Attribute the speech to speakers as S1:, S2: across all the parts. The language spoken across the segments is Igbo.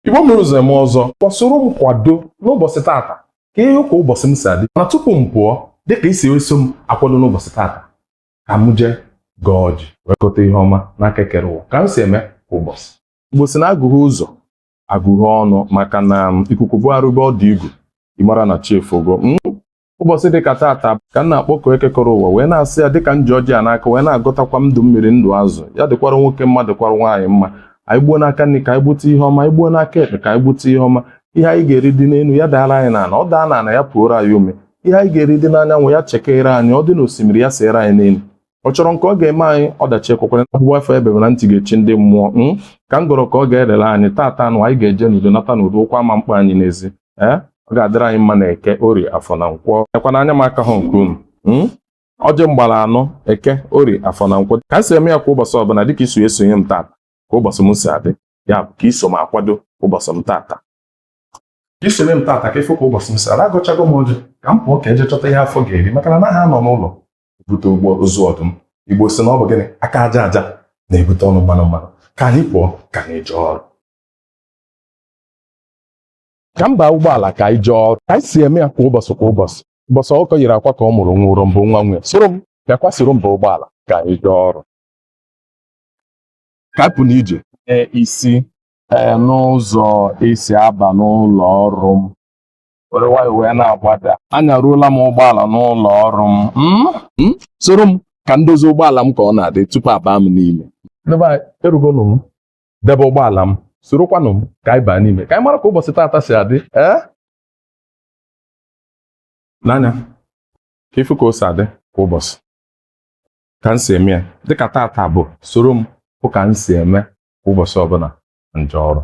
S1: Igbo mere ụzọ eme ọzọ ka ị soro m kwado n'ụbọchị taata ka ị hụ ka ụbọchị m si adị mana tupu m pụọ dịka i si eso m akwado n'ụbọchị taata ka m jee gọọ ọjị wee gọta ihe ọma n'aka ekere ụwa ka m si eme kwa ụbọchị Igbo si na agụghị ụzọ agụghị ọnụ maka na ikuku bugharịbe ọdụ igu ị mara na chi efogo ụbọchị dịka taata ka m na-akpọku Eke kere ụwa wee na-asị ya dịka m ji ọjị a n'aka wee na-agọtakwa ndụ mmiri ndụ azụ ya dịkwara nwoke mma dịkwara nwaanyị mma anyị gbuo n'aka nri ka anyị gbute ihe ọma anyị gbuo n'aka ekpe ka anyị gbute ihe ọma ihe anyị ga-eri dị n'elu ya daara anyị n'ala ọ daa n'ala ya puoro anyị ome ihe anyị ga-eri dị n'anyanwụ ya chekere anyị ọ dị n'osimiri ya seere anyị n'elu ọ chọrọ nke ọ ga-eme anyị ọdachi ekwekwere agbụgba afọ ebebe na ntị ga-echi ndị mmụọ m hmm? ka m gọrọ ka ọ ga-erere anyị taata nụ anyị ga-eje n'udo nata n'udo ụkwụ ama mkpa anyị n'ezi ee eh? ọ ga-adịrị anyị mma na eke orie afọ na nkwọ ekwana anya m aka ha nke unu hmm? ọjị m gbara anọ eke orie afọ na nkwọ ka m si eme ya kwa ụbọchị ọbụla dịka i si esonye m taata ka ụbọchị m si adị ya bụ ka i so m akwado ụbọchị m taata ka i soro m taata ka ị fụ ka ụbọchị m si adị agọchago m ọjị ka m pụọ ka e jee chọta ihe afọ ga-eri maka na anaghị anọ n'ụlọ bute ụgbọ ozu ọdụm igbo si na ọ bụ gịnị aka aja aja na-ebute ọnụ mmanụ mmanụ ka anyị pụọ ka anyị jee ọrụ ka m baa ụgbọala ka anyị jee ọrụ ka anyị si eme ya kwa ụbọchị kwa ụbọchị ụbọchị ọkụkọ yiri akwa ka ọ mụrụ nwa ụrịọm bụ nwa nwunye soro m bịakwa soro m baa ụgbọala ka anyị jee ọrụ ka anyị pụ n'ije ee isi ee n'ụzọ e si aba n'ụlọ ọrụ m were nwayọọ wee na-agbada anyaruola m ụgbọala n'ụlọ ọrụ m Mm, mm, soro m ka m dozie ụgbọala m ka ọ na-adị tupu abaa m n'ime ndị be anyị erugonụ m debe ụgbọala m sorokwanụ m ka anyị baa n'ime ka anyị mara ka ụbọchị taata si adị ee n'anya ka ị fụ ka o si adị kwa ụbọchị ka m si eme ya dịka taata bụ soro m fụ ka m si eme kwa ụbọchị ọbụla m jee ọrụ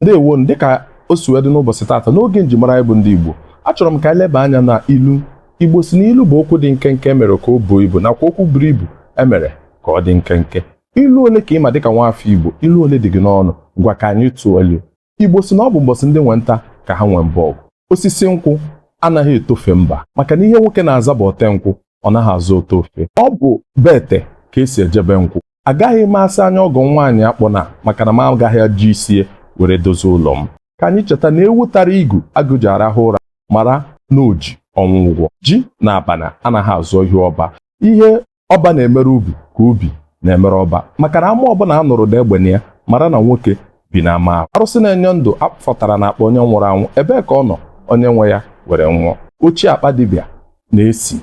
S1: ndewo nụ dịka o si wee dị n'ụbọchị taata n'oge njimara anyị bụ ndị Igbo achọrọ m ka anyị leba anya na ilu Igbo si na ilu bụ okwu dị nkenke e mere ka o buo ibu nakwa okwu buru ibu e mere ka ọ dị nkenke ilu ole ka ị ma dịka nwaafọ Igbo ilu ole dị gị n'ọnụ ngwa ka anyị tụọ ilu Igbo si na ọ bụ mbọsị ndị nwe nta ka ha nwee mbọ ọgụ osisi nkwụ anaghị etofe mba maka na ihe nwoke na-aza bụ ote nkwụ ọ naghị aza ote ofe ọ bụ be ete ka e si eje be nkwụ agaghị m asị anya ọgọ nwaanyị akpọna maka na m agaghị eji isi ya were dozie ụlọ m ka anyị cheta na ewu tara igu agụ ji arahụ ụra mara na o ji ọnwụ ụgwọ ji na abana anaghị azọ ihu ọba ihe ọba na-emere ubi ka ubi na-emere ọba maka na ama ọbụla a nụrụ ụda egbe na ya mara na nwoke bi na ama ahụ arụsị na-enye ndụ a fọtara na akpa onye nwụrụ anwụ ebee ka ọ nọ onye nwe ya were nwụọ ochie akpa dibịa na-esi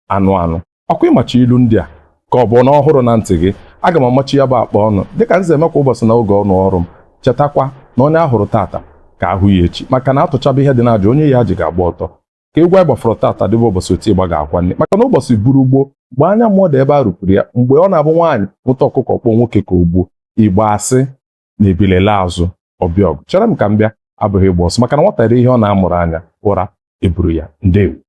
S1: anụ anụ ọ kwa ị macha ilu ndị a ka ọ bụ na ọhụrụ na ntị gị aga m amachi ya bụ akpa ọnụ dịka m si eme kwa ụbọchị na oge ọnụ ọrụ m chetakwa na onye a hụrụ tata ka a hụ ya echi maka na a tụchaba ihe dị n'aji onye yi aji ga-agba ọtọ ka egwu anyị gbafọrọ tata dịba ụbọchị oti ịgba ga-akwa nne maka na ụbọchị bụrụ gboo mgbe anya mmụọ dị ebe a rụpụrụ ya mgbe ọ na-abụ nwaanyị nwụta ọkụkọ ọ kpọọ nwoke ka o gbuo igbo asị na ebili laa azụ ọ bịa ọgụ chere m ka m bịa abụghị ịgba ọsọ maka na nwata rie ihe ọ na-amụrụ anya ụra eburu ya ndewo